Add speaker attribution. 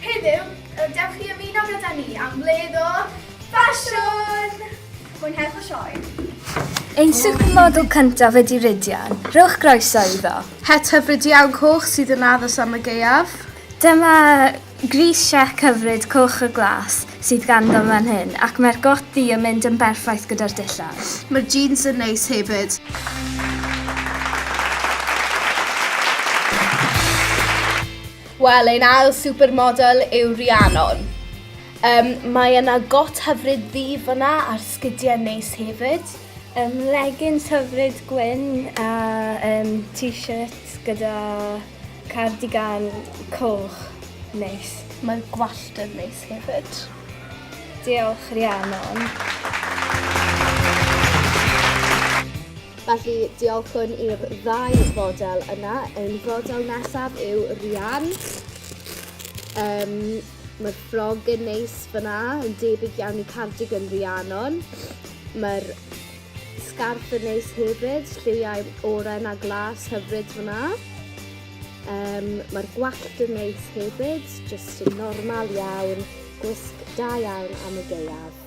Speaker 1: Heddiw, y dewch i ymuno gyda ni am wledd o ffasiwn!
Speaker 2: Mwynhewch y sioe! Ein supermodel cyntaf ydy Rhydian. Rhowch groeso iddo. Het hyfryd iawn
Speaker 1: coch sydd yn addas am y gaeaf. Dyma
Speaker 2: gris siec hyfryd coch y glas sydd ganddo fan hyn ac mae'r got ddu yn mynd yn berffaith gyda'r dillad. Mae'r jeans yn
Speaker 1: neis hefyd. Wel, ein ail supermodel yw Rhiannon. Um, mae yna got hyfryd ddi fyna ar sgidiau neis hefyd. Um, leggings
Speaker 2: hyfryd gwyn a um, t-shirt gyda cardigan coch neis. Mae'r gwallt
Speaker 1: yn neis hefyd. Diolch
Speaker 2: Rhiannon.
Speaker 3: Felly, diolchwn i'r ddau fodel yna. Ein fodel nesaf yw Rian. Um, Mae'r ffrog yn neis fyna, yn debyg iawn i cardigan Rhiannon. Mae'r sgarff yn neis hefyd, lliwiau oren a glas hyfryd fyna. Um, Mae'r gwallt yn neis hefyd, jyst yn normal iawn, gwisg da iawn am y geiaf.